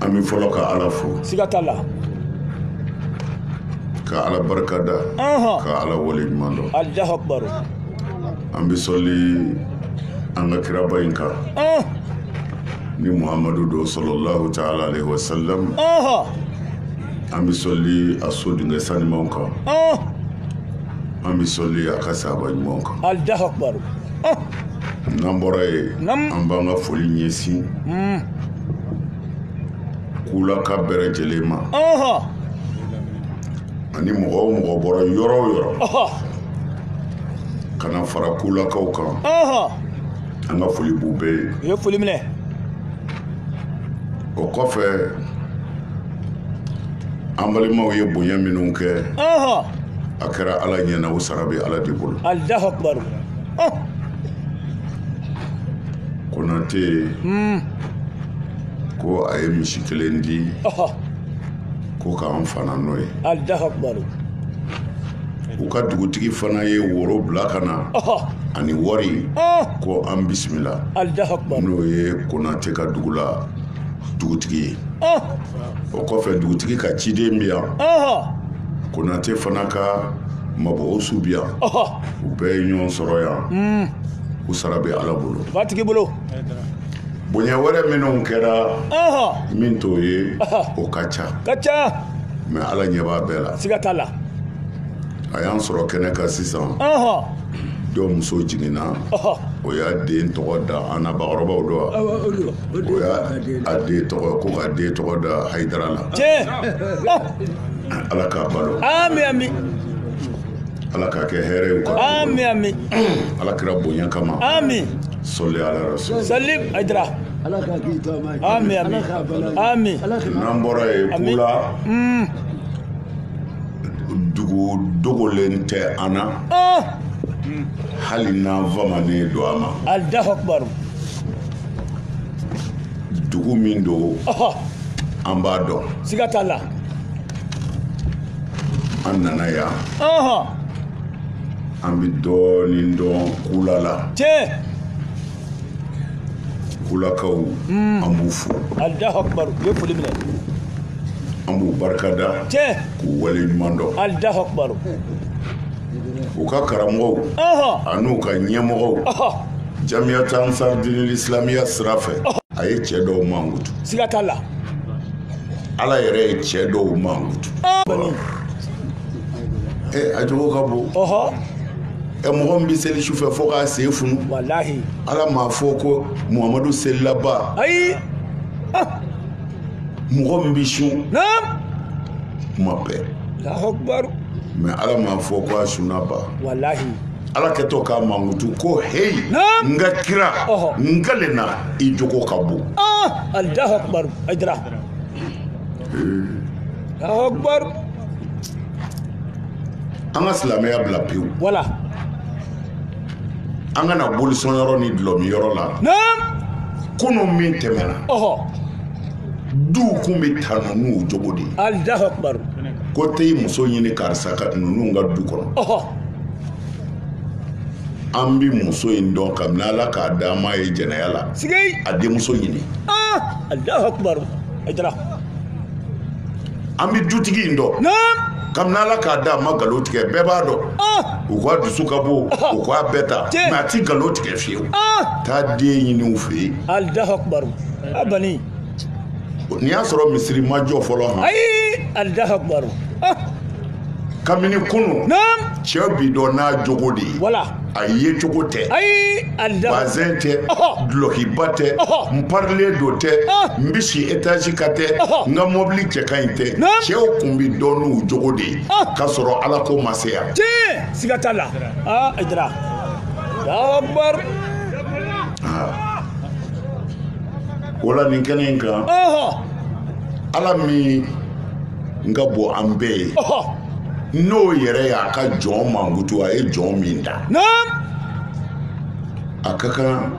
an bɛ fɔlɔ ka ala fo siga t'a la ka ala barika da ka ala wale ɲuman dɔn alahu akibaru an bɛ sɔli an ka kiraba in kan ni muhamadu don sɔlɔlahu taala alayhi wa salam an bɛ sɔli a so dingɛ sanimanw kan an bɛ sɔli a ka sahaba ɲumanw kan alahu akibaru n'an bɔra yen an b'an ka foli ɲɛsin kulaka bɛɛ lajɛlen ma ani mɔgɔ o mɔgɔ bɔra yɔrɔ o yɔrɔ ka na fara kulakaw kan an ka foli b'u bɛɛ ye u ye foli minɛ o kɔfɛ an balimaw ye bonya minnu kɛ a kɛra ala ɲɛna o sara bɛ ala de bolo konate hmm. ko a ye misi kelen di ko k'an fana n'o ye u ka dugutigi fana ye woro bila ka na ani wari ko an bisimila n'o ye konate ka dugu la dugutigi ye o kɔfɛ dugutigi ka ciden bi yan konate fana ka mabɔw su bi yan u bɛɛ ye ɲɔgɔn sɔrɔ yan hmm. u sara bɛ ala bolo ba tigi bolo bonya wɛrɛ minnu kɛra min t'o ye o ka ca ka ca mɛ ala ɲɛ b'a bɛɛ la siga t'a la a y'an sɔrɔ kɛnɛ kan sisan dɔ muso jiginna o y'a den tɔgɔ da an na bakɔrɔbaw dɔ o y'a a den tɔgɔ ko ka den tɔgɔ da hayidara la ala k'a balo ami ami ala k'a kɛ hɛrɛ ye ka ami ami ala kira bonya kama ami sɔli ala rasul sɔli ajira ala k'a k'i taama ye ami ami ami n'an bɔra yen kula hmm. dugu dogolen tɛ an na oh. hali n'an famanen don a ma alahu akibaru dugu min don an b'a dɔn siga t'a la an nana yan an bɛ dɔɔnin dɔn kula la kulakaw hmm. an b'u fo an b'u barika da k'u wale ɲuman dɔn u ka karamɔgɔw an'u ka ɲɛmɔgɔw jamiyata ansar dinil islamiya sira fɛ a ye cɛ dɔw mankutu siga t'a la ala yɛrɛ ye cɛ dɔw mankutu ee a jogo ka bon ɛ mɔgɔ min bɛ seli sufɛ fo k'a sen funu ala m'a fɔ ko muhamadu selilaba ayi ah. mɔgɔ min bɛ sun kuma bɛɛ mɛ ala m'a fɔ ko a sunnaba ala kɛtɔ k'a mankutu ko heyi n ka kira n kalen na i jogo ka bon ah. an ka silamɛya bila pewu wala an ka na bolisɔn yɔrɔ ni dulɔmin yɔrɔ la kunu min tɛmɛna duw kun bɛ tanu n'u jogo de ye ko taa i muso ɲini karisa ka ninnu ka du kɔnɔ an bɛ muso in dɔn kabini ala k'a da an m'a ye jɛnɛya la a denmuso ɲini an bɛ dutigi in dɔn kabini ala k'a da a ma nkalon tigɛ bɛɛ b'a dɔn u k'a dusu ka bon u k'a bɛɛ ta mɛ a ti nkalon tigɛ fiyewu taa den ɲini u fɛ yen n'i y'a sɔrɔ misiri ma jɔ fɔlɔ han kabini kunu cɛ bi dɔn n'a jogo de ye a yecogo tɛ bazɛn tɛ dulɔkiba tɛ n parilen don tɛ n bɛ si etazi kan tɛ n ka mɔbili cɛ ka ɲi tɛ cɛw kun bi dɔn n'u jogo de ye ka sɔrɔ ala ko ma se yan siga t'a la aa a jira akbar o la nin kɛnɛ in kan ala min n ka bon an bɛɛ ye n'o yɛrɛ y'a ka jɔn mankutu a ye jɔn min da a ka kan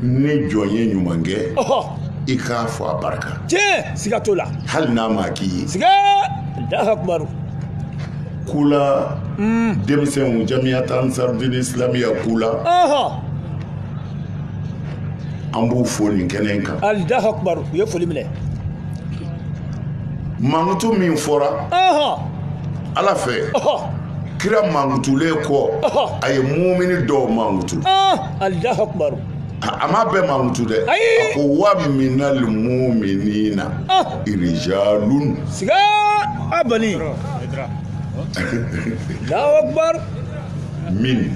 ni jɔn ye ɲuman kɛ i k'a fɔ a barika tiɲɛ siga t'o la hali n'a ma k'i ye siga Allahu akbar kula hmm. denmisɛnw jamiyat ansarudini islamiya kula an b'u fo nin kɛnɛ in kan Allahu akbar u ye foli minɛ mankutu min fɔra ala fɛ kira mankutulen kɔ a ye mumini dɔw mankutu Allahu akbar a m'a bɛɛ mankutu dɛ a ko wa minal muminina rijalun siga a bali Allahu akbar min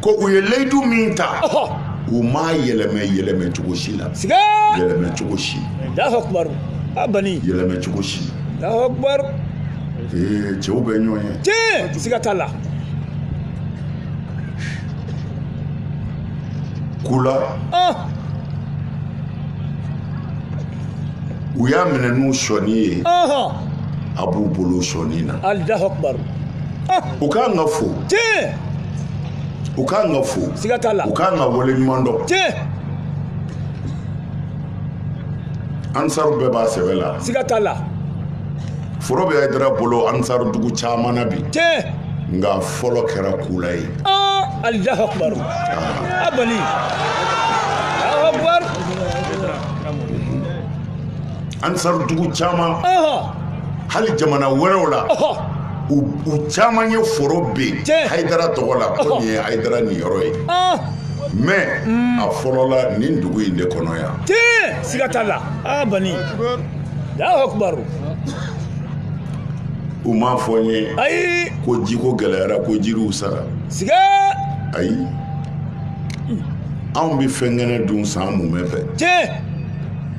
ko u ye layidu min ta u m'a yɛlɛmɛ yɛlɛmɛ cogo si la yɛlɛmɛ cogo si alahu akubaru a bani yɛlɛmɛ cogo si alahu akubaru cɛw bɛ ɲɔgɔn ye tiɲɛ siga t'a la kula u y'a minɛ n'u sɔnni ye a b'u bolo sɔnni na u ka kan ka fo u ka kan ka fo siga t'a la u ka kan ka wale ɲuman dɔn ansaru bɛɛ b'a sɛbɛ la siga t'a la foro bɛ hayidara bolo ansaru dugu caman na bi nka fɔlɔ kɛra kula ye alahu akubaru a bani alahu akubaru ansaru dugu caman hali jamana wɛrɛw la u caman ye foro bin hayidara tɔgɔ la ko nin ye hayidara niyɔrɔ ye mɛ a fɔlɔla nin dugu in de kɔnɔ yan tiɲɛ siga t'a la a bani alahu akubaru u m'a fɔ n ye ayi ko jiko gɛlɛyara ko jiriw sara siga ayi anw bɛ fɛn kɛnɛ dun san mumɛ fɛ tiɲɛ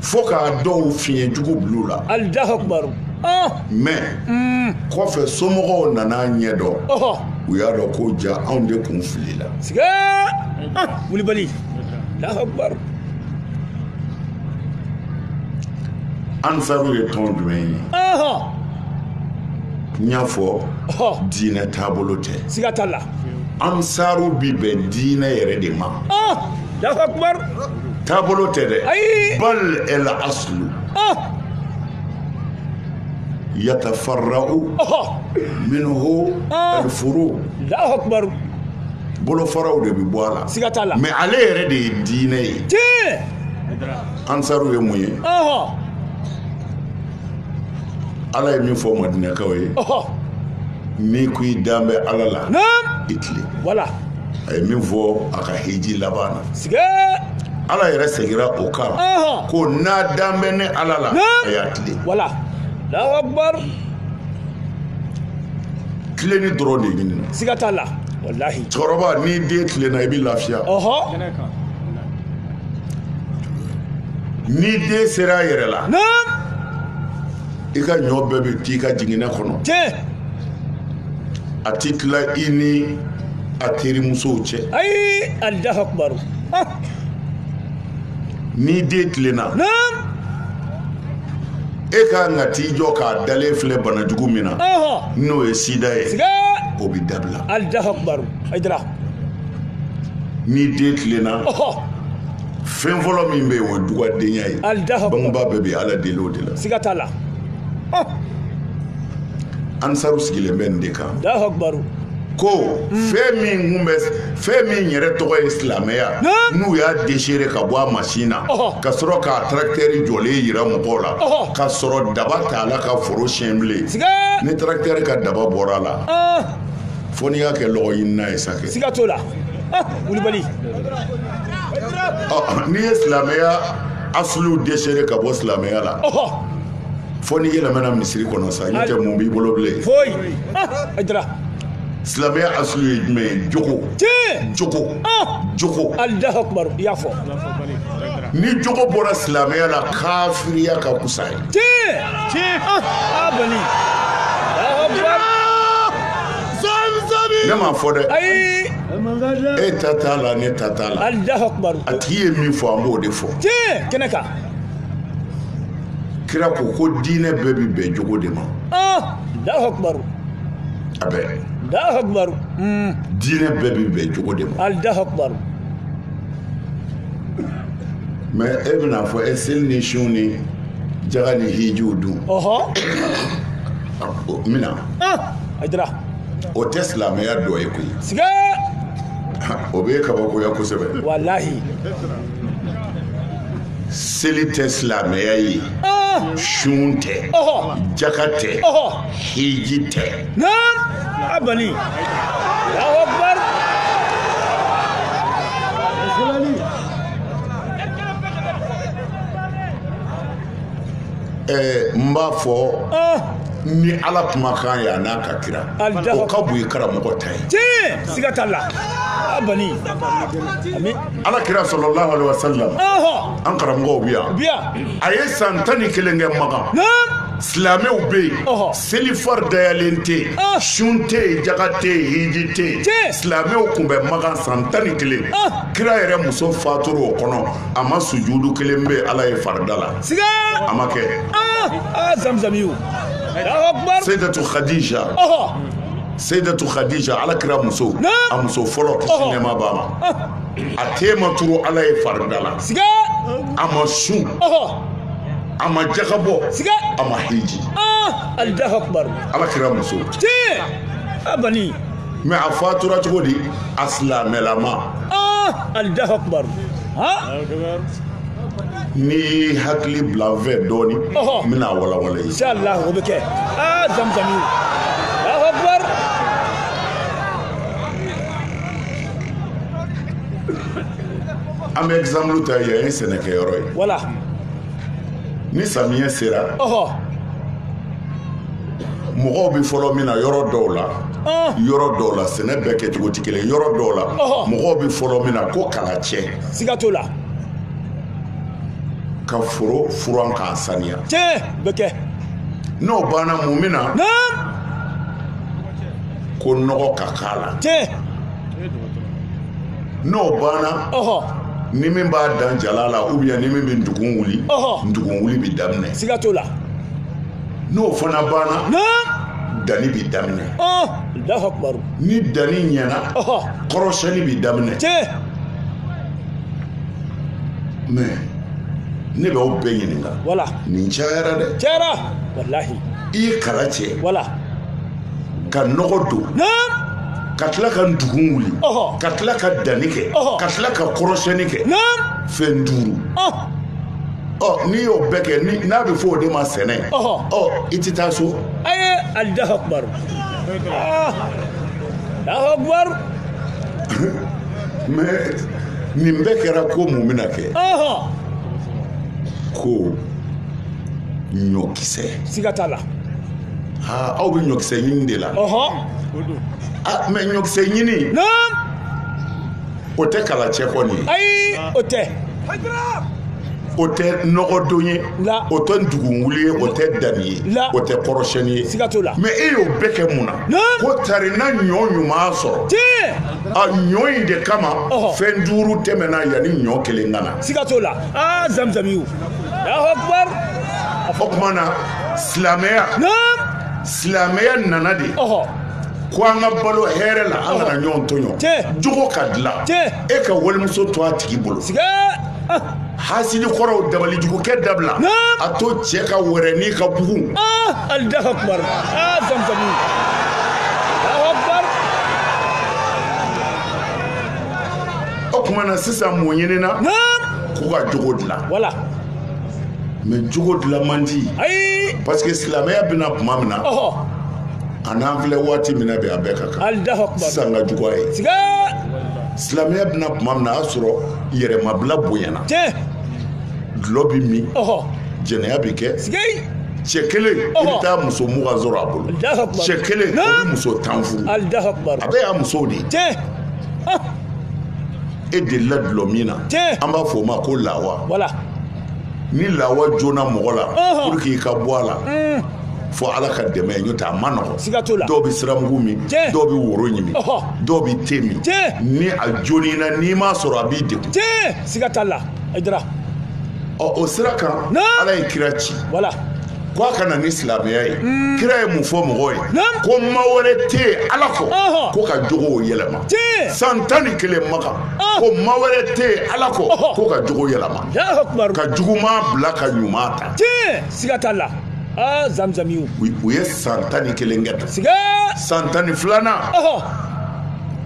fo k'a dɔw fiɲɛ jugu bil'u la alahu akubaru mɛ mm. kɔfɛ somɔgɔw nana ɲɛdɔn u y'a dɔn ko ja anw de kun filila siga wulibali alahu akubaru ansaru ye tɔn jumɛn ye n y'a fɔ diinɛ taabolo tɛ siga t'a la ansaru bi bɛn diinɛ yɛrɛ de ma alahu akubaru taabolo tɛ dɛ bal el aslu yatafarra'u minhu al furu Allahu akbar bolofaraw de bɛ bɔ a la siga t'a la mais ale yɛrɛ de ye diinɛ ye tiɲɛ ansaru ye mun ye ala ye min fɔ madinakaw ye n'i ko i dan bɛ ala la i tilen wala a ye min fɔ a ka hiji laban na siga ala yɛrɛ segira o kan ko n'a dan bɛ ne ala la a y'a tilen wala alahu akubaru tilenni dɔrɔn de ɲinina siga t'a la walahi cɛkɔrɔba n'i den tilenna i bɛ lafiya n'i den sera a yɛrɛ la i ka ɲɔ bɛɛ bɛ t'i ka jiginɛ kɔnɔ a ti tila i ni a terimusow cɛ ayi alahu akubaru n'i den tilenna e ka kan ka t'i jɔ k'a dalen filɛ bana jugu min na n'o ye sida ye o bɛ dabila alahu akubaru ayidara n'i den tilenna fɛn fɔlɔ min bɛ yen o ye dugadenya ye bangebaa bɛɛ bɛ ala deli o de la siga t'a la oh. ansaru sigilen bɛ nin de kan ko fɛn min kun bɛ fɛn min yɛrɛ tɔgɔ ye silamɛya n'u y'a desere ka bɔ a masin na ka sɔrɔ k'a tarakitɛri jɔlen yira mɔgɔw la ka sɔrɔ daba t'a la ka foro sɛnɛ bilen ni tarakitɛri ka daba bɔra a la fo n'i y'a kɛ lɔgɔ ɲinina ye sa kɛ siga t'o la wulibali n'i ye silamɛya asulu desere ka bɔ silamɛya la fo n'i yɛlɛmana misiri kɔnɔ sa n'o tɛ mun b'i bolo bilen foyi ayidara silamɛya asulu ye jumɛn ye jogo jogo jogo alahu akubaru i y'a fɔ ni jogo bɔra silamɛya la kafiriya ka kusa ye tiɲɛ tiɲɛ a bani ne m'a fɔ dɛ ayi e ta t'a la ne ta t'a la alahu akubaru a tigi ye min fɔ an b'o de fɔ tiɲɛ kɛnɛ kan kira ko ko diinɛ bɛɛ bi bɛn jogo de ma alahu akubaru a bɛɛ alahu akubaru diinɛ bɛɛ bi bɛn jogo de ma alahu akubaru mɛ e bɛn'a fɔ e seli ni sun ni jaga ni hijiw dun ɔhɔ mina ayidara o tɛ silamɛya dɔ ye koyi siga o bɛ kabakoya kosɛbɛ walahi seli tɛ silamɛya ye ah! sun tɛ jaka tɛ hiji tɛ a bani ɛɛ n b'a fɔ ni ala kumakan ye a n'a ka kira o ka bon i karamɔgɔ ta ye tiɲɛ siga t'a la a bani ami ala kira sallallahu alaihi wa sallam an karamɔgɔw bi yan bi yan a ye san tan ni kelen kɛ Makan silamɛw bɛ yen selifari dayalen tɛ yen ah. sun tɛ yen jaga tɛ yen hiji tɛ yen silamɛw tun bɛ Makan san tan ni kelen ah. kira yɛrɛ muso fatura o kɔnɔ a ma sujudu kelen bɛ ala ye farida la siga a ma kɛ aa ah, zamzamiyu seydatu khadija seydatu khadija ala kira muso a muso fɔlɔ kisi nɛɛma b'a ma a ten ma turu ala ye farida la siga a ma sun a ma jaga bɔ siga a ma hiji ah, ala kira muso tiɲɛ a bani mais a fatura cogo di a silamɛlama Allahu akubaru n'i y'i hakili bila n fɛ dɔɔni n bɛn'a walawala i ye inshallah o bɛ kɛ aa zamzami Allahu akubaru an bɛ exemple ta yan ye sɛnɛkɛyɔrɔ ye wala ni samiyɛ sera mɔgɔw bɛ fɔlɔ min na yɔrɔ dɔw la ah. yɔrɔ dɔw la sɛnɛ bɛɛ kɛcogo tɛ kelen yɔrɔ dɔw la mɔgɔw bɛ fɔlɔ min na ko kala cɛ siga t'o la ka foro furan k'a saniya tiɲɛ bɛ kɛ n'o banna mun bɛ na ko nɔgɔ ka k'a la tiɲɛ n'o banna ni min b'a dan jala la ou bien ni min bɛ ndugun wuli ndugun wuli bɛ daminɛ siga t'o la n'o fana banna danni bɛ daminɛ ni danni ɲɛna kɔrɔsɛni bɛ daminɛ mais ne b'aw bɛɛ ɲininka nin cayara dɛ cayara walahi i ye kala cɛ wala ka nɔgɔ don ka tila ka ndugun wuli ka tila ka danni kɛ ka tila ka kɔrɔsɛni kɛ fɛn duuru ɔ n'i y'o bɛɛ kɛ n'a bɛ fɔ o de ma sɛnɛ Ɔhɔ. ɔ i tɛ taa so ayi Allahu akubaru Ah, Allahu akubaru mais nin bɛɛ kɛra ko mun bɛna kɛ ɔhɔ ko ɲɔkisɛ siga t'a la aa aw bɛ ɲɔkisɛ ɲini de la ɔhɔ aa mais ɲɔkisɛ ɲini naam o tɛ kala cɛ kɔni ye ayi o tɛ o tɛ nɔgɔdon ye o tɛ ndugunwuli ye o tɛ danni ye o tɛ kɔrɔsiyɛnni ye siga t'o la mais e y'o bɛɛ kɛ mun na ko tari na ɲɔ ɲuman sɔrɔ a ɲɔ in de kama fɛn duuru tɛmɛna yanni ɲɔ kelen ka na siga t'o la aa zamzamiw o tuma na silamɛya silamɛya nana de ko an ka balo hɛrɛ la an kana ɲɔgɔn tɔɲɔ jogo ka dila e ka walimuso to a tigi bolo ah. hasidi kɔrɔw dabalijugukɛ dabila a to cɛ ka wɛrɛnin ka bugun ah, Allahu akbar ah, zamzamu o tuma na sisan mun ɲinina k'u ka jogo dilan wala mais jogo dilan man di parce que silamɛya bɛna tuma min na A n'an filɛ waati min na bɛ a bɛɛ ka kan sisan ka jugu a ye silamɛya bɛna tuma min na a y'a sɔrɔ yɛrɛmabila bonyana dulɔ bɛ min jɛnɛya bɛ kɛ cɛ kelen i bɛ taa muso mugan sɔrɔ a bolo cɛ kelen o bɛ muso tan furu a bɛɛ y'a musow de ye e delila dulɔ min na an b'a fɔ o ma ko lawa ni lawa joona mɔgɔ la pour que i ka bɔ a la mm. fo ala ka dɛmɛ ye n'o tɛ a man nɔgɔ dɔw bɛ siramugu min dɔw bɛ woro ɲimi dɔw bɛ te min ni a joni na n'i m'a sɔrɔ a b'i degun siga t'a la ɔ o sira kan ala ye kira ci k' a ka na ni silamɛya ye kira ye mun fɔ mɔgɔw ye ko ma wɛrɛ tɛ yen ala kɔ ko ka jogo yɛlɛma san tan ni kelen makan ko ma wɛrɛ tɛ yen ala kɔ ko ka jogo yɛlɛma ka juguman bila ka ɲuman ta siga t'a la zanzami u ye san tan ni kelen kɛ san tan ni filanan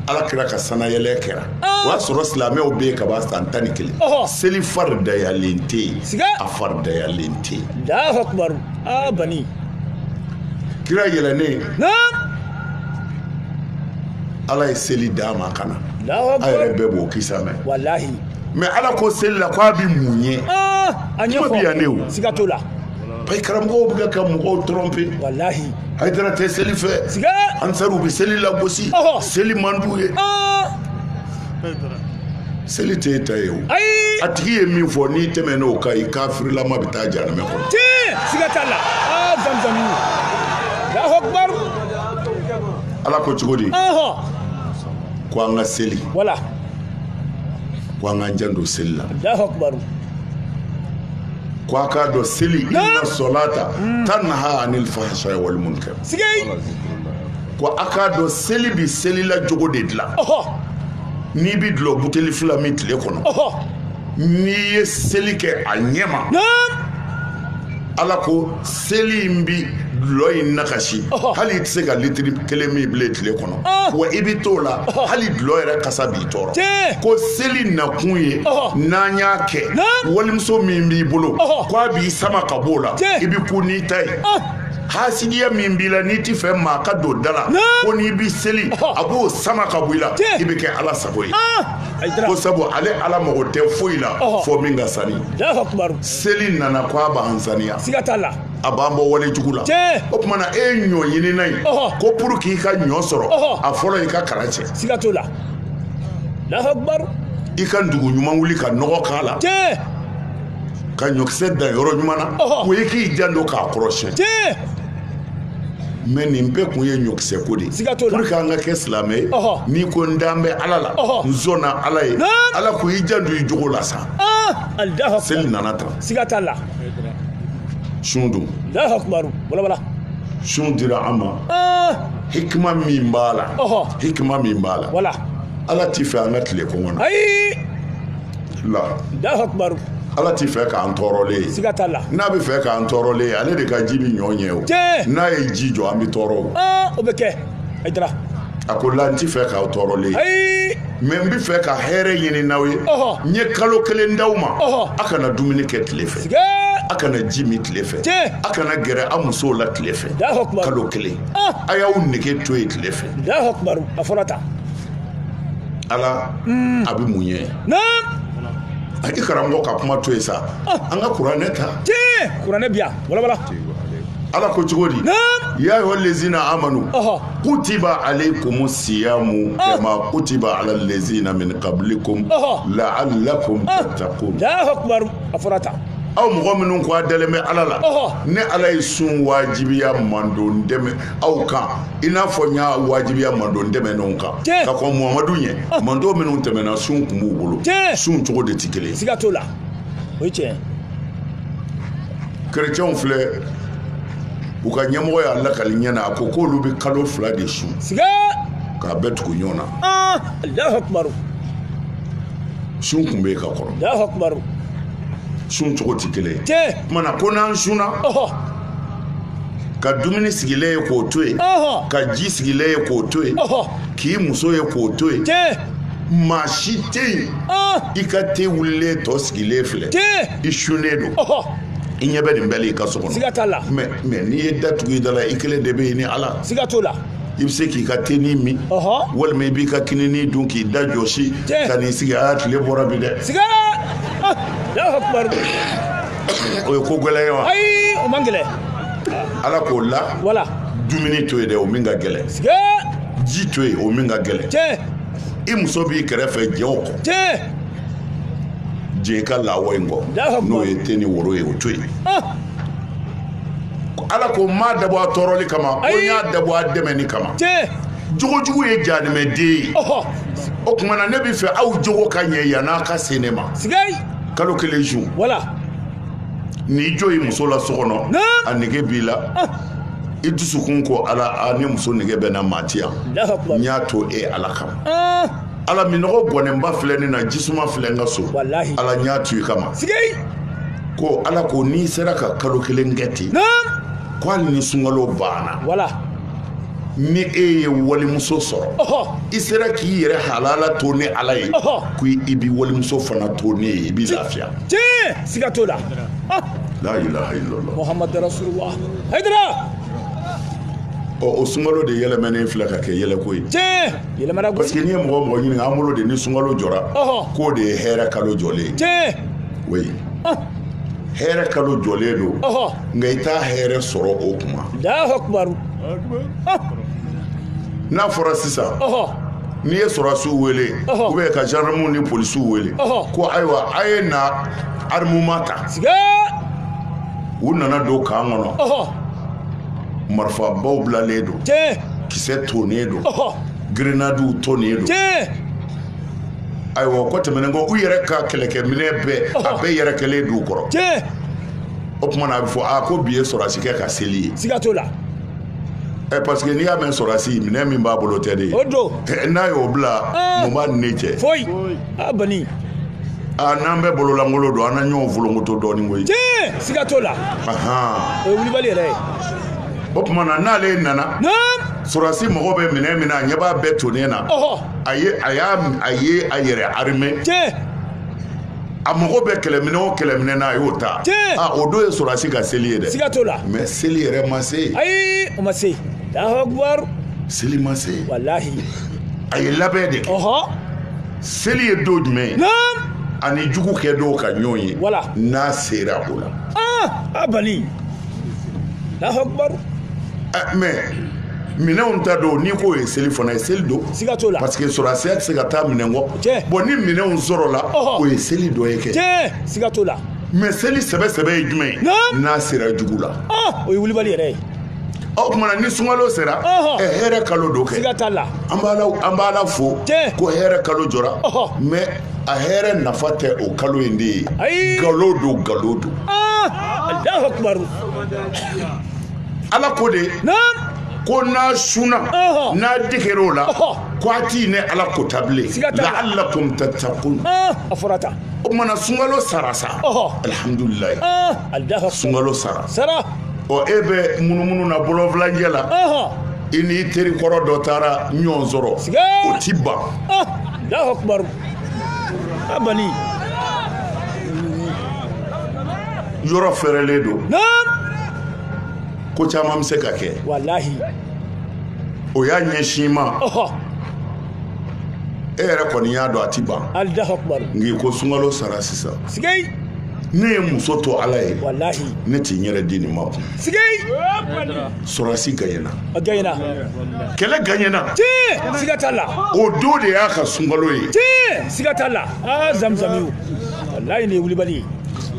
ala kira ka sanayɛlɛ kɛra o y'a sɔrɔ silamɛw bɛ yen kaban san tan ni kelen seli faridayalen tɛ yen a faridayalen tɛ yen kira yɛlɛnnen ala ye seli d'a ma ka na a yɛrɛ bɛɛ b'o kisa mɛn mais ala ko seli la k'a bɛ mun ye kuma bɛ yan ne o payi karamɔgɔw bɛ ka mɔgɔw tromper walahi Haidara tɛ seli fɛ ansariw bɛ seli lagosi seli man d'u ye seli tɛ e ta ye o a tigi ye min fɔ n'i tɛmɛn'o kan i kafirilama bɛ taa janamɛ kɔnɔ tiɲɛ siga t'a la aa zamzam Allahu akbar ala ko cogo di ko an ka seli wala ko an k'an janto seli la Allahu akbar ko a k'a dɔn seli inna solata tanha anil fahsha'i wal munkar sigei ko a k'a dɔn seli bi selila jogo de dilan ɔhɔ n'i bi dulɔ buteli fila min tile kɔnɔ ɔhɔ n'i ye seli kɛ a ɲɛma naam ala ko seli in bi dulɔ in nakasi hali i tɛ se ka litiri kelen min bilen tile kɔnɔ wa i bɛ t'o la hali dulɔ yɛrɛ kasa b'i tɔɔrɔ ko seli nakun ye n'an y'a kɛ walimuso min b'i bolo ko a b'i sama ka b'o la i bɛ to n'i ta ye hasidiya min b'i la n'i ti fɛ maa ka don da la ko n'i bi seli a b'o sama ka bɔ i la i bɛ kɛ ala sago ye ko sabu ale ala mago tɛ foyi la fo min ka sani seli nana ko a b'an saniya siga t'a la a b'an bɔ wale jugu la o tuma na e ye ɲɔ ɲinina ye ko pour k'i ka ɲɔ sɔrɔ a fɔlɔ i ka kala cɛ siga t'o la Alahu akibaru i ka dugu ɲuman wuli ka nɔgɔ k'a la ka ɲɔkisɛ dan yɔrɔ ɲuman na o ye k'i janto k'a kɔrɔsiyɛn mais nin bɛɛ kun ye ɲɔkisɛ ko de ye pour que an ka kɛ silamɛ ye n'i ko n dan bɛ ala la n sɔnna ala ye ala ko i janto i jogo la sa Alahu seli nana tan siga t'a la sun dun Alahu akibaru walawala sun dira an ma ah. hikima min b'a la hikima min b'a la wala ala ti fɛ an ka tile kɔngɔ na ayi la Alahu akibaru ala ti fɛ k'an tɔɔrɔlen ye siga t'a la n'a bɛ fɛ k'an tɔɔrɔlen ye ale de ka ji bɛ ɲɔ ɲɛ o n'a ye ji jɔ an bɛ tɔɔrɔ o ah, o bɛ kɛ a ko la n ti fɛ k'aw tɔɔrɔlen ye mais n bɛ fɛ ka hɛrɛ ɲinin aw ye n ye kalo kelen d'aw ma a kana dumuni kɛ tile fɛ a kana ji min tile fɛ a kana gɛrɛ a musow la tile fɛ kalo kelen ah. a y'aw nege to yen tile fɛ ala hmm. a bɛ mun ɲɛ a i karamɔgɔ ka kuma to yen sa ah. an ka kuranɛ ta kuranɛ bi yan walawala ala ko cogo di ya ayyuhal lezina amanu kutiba alaykum siyamu ah. kama kutiba alal lezina min qablikum la'allakum ah. tattaqun Allahu akbar a fɔra tan aw mɔgɔ minnu ko a dalen bɛ ala la ne ala ye sun wajibiya mandon tɛmɛ aw kan i n'a fɔ n y'a wajibiya mandon tɛmɛnenw kan ka kɔn muhamadu ɲɛ ah. mandon minnu tɛmɛna sun tun b'u bolo sun cogo de tɛ kelen ye siga t'o la o ye tiɲɛ ye kerecɛnw filɛ u ka ɲɛmɔgɔ y'a lakali ɲɛ na a ko k'olu bɛ kalo fila de sun k'a bɛɛ tugu ɲɔgɔn na ah, sun kun bɛ yen ka kɔrɔ sun cogo tɛ kelen ye o tuma na ko n'an sunna ka dumuni sigilen ye k'o to yen ka ji sigilen ye k'o to yen k'i muso ye k'o to yen maa si tɛ yen i ka te wulilen tɔ sigilen filɛ i sunnen don i ɲɛ bɛ nin bɛɛ la i ka so kɔnɔ siga t'a la mais n'i ye da tugu i da la i kelen de bɛ yen ni ala siga t'o la i bɛ se k'i ka tenin min walima i b'i ka kinini dun k'i da jɔsi ka n'i sigi aa tile bɔra bi dɛ siga o ye ko gɛlɛn ye wa ayi o man gɛlɛn ala k'o la wala dumuni to yen dɛ o min ka gɛlɛn siga ji to yen o min ka gɛlɛn i muso b'i kɛrɛfɛ jɛn o kɔ jɛn i ka lawa in kɔ n'o ye te ni woro ye o to yen ah! ala ko n m'a dabɔ a tɔɔrɔli kama ko n y'a dabɔ a dɛmɛni kama jogojugu ye jahanamaden ye o tuma na ne bɛ fɛ aw jogo ka ɲɛ yann'a ka se ne ma kalo kelen sun i jɔ i muso la so kɔnɔ a nege b'i la ah! i dusukun ko ala n muso nege bɛ n na maa tɛ yan n y'a to e ala kama ala minnɔgɔ gɔninba filɛ ne na jisuma filɛ n ka so ala n y'a to i kama ko ala ko n'i sera ka kalo kelen kɛ ten ko hali ni sunkalo banna ni e ye walimuso sɔrɔ i sera k'i yɛrɛ halala to ne ala ye ko i bɛ walimuso fana to ne ye i b'i lafiya siga t'o la muhamadu rasulullah hayidara ɔ o sunkalo de yɛlɛmɛnen filɛ ka kɛ yɛlɛko ye tiɲɛ yɛlɛmana parce que n'i ye mɔgɔ o mɔgɔ ɲininka an bolo de ni sunkalo jɔra k'o de ye hɛrɛ kalo jɔlen ye tiɲɛ oui hɛrɛ kalo jɔlen don nka i t'a hɛrɛ sɔrɔ o kuma n'a fɔra sisan N'i ye sɔrɔdasiw wele ou bien ka gendarmew ni polisiw wele ko ayiwa a ye na armement ta u nana don camp kɔnɔ marifabaw bilalen don kisɛ tonnen don grenadew tonnen don ayiwa ko tɛmɛnen kɔ u yɛrɛ ka kɛlɛkɛminɛ bɛɛ a bɛɛ yɛrɛ kɛlen don u kɔrɔ o tuma na a bɛ fɔ ko bi ye sɔrɔdasikɛ ka seli ye ɛ parce que n'i y'a mɛn sɔrɔdasi minɛn min b'a bolo tɛ de ye o don n'a y'o bila mun b'a ni ne cɛ foyi a bani aa n'an bɛɛ bololankolon don an na ɲɔgɔn folonkoto dɔɔnin koyi tiɲɛ siga t'o la o ye wulibali yɛrɛ ye o tuma na n'ale nana sɔrɔdasi mago bɛ minɛn min na a ɲɛ b'a bɛɛ tonnen na a ye a y'a a ye a yɛrɛ armé tiɲɛ a mago bɛ kɛlɛminɛ o kɛlɛminɛ na a y'o ta ah, o don ye sɔrɔdasi ka seli ye dɛ siga t'o la mais seli yɛrɛ ma se ayi o ma se Allahu seli ma se walahi a ye labɛn de kɛ seli ye don jumɛn ye a ni jugu kɛ don ka ɲɔgɔn ye n'a sera o la ah, a bani Allahu Akbar eh, mais minɛnw ta don n'i k'o ye seli fana ye seli don siga t'o la parce que sɔrɔdasiya tɛ se ka taa minɛn kɔ tiɲɛ bon ni minɛnw sɔrɔla o ye seli dɔ ye kɛ tiɲɛ siga t'o la mais seli sɛbɛ sɛbɛ ye jumɛn ye n'a sera jugu la o ye wulibali yɛrɛ ye o tuma na ni sunkalo sera ɛ hɛrɛ kalo don kɛ siga t'a la an b'ala fo ko hɛrɛ kalo jɔra mais a hɛrɛ nafa tɛ o kalo in de ye nkalon don nkalon don alahu akibaru ala ko de ko n'a sunna n'a degera o la ko a ti ne ala ko ta bilen la'allakum tattaqun a fɔra tan o tuma na sunkalo sara sa alihamdulilayi sunkalo sara sara ɔ e bɛ munumunu na bɔlɔnfilancɛ la i n'i teri kɔrɔ dɔ taara ɲɔgɔn sɔrɔ o t'i ban a bani yɔrɔ fɛrɛlen don ko caman bɛ se ka kɛ walahi o y'a ɲɛsin ma e yɛrɛ kɔni y'a dɔn a t'i ban nka ko sunkalo sara sisan ne ye muso to ala ye ne ti n yɛrɛ di nin ma kun sɔrɔdasi gagné na kɛlɛ gagné na tiɲɛ siga t'a la o don de y'a ka sunkalo ye tiɲɛ siga t'a la aa zamizamiw walayi nin ye wulibali ye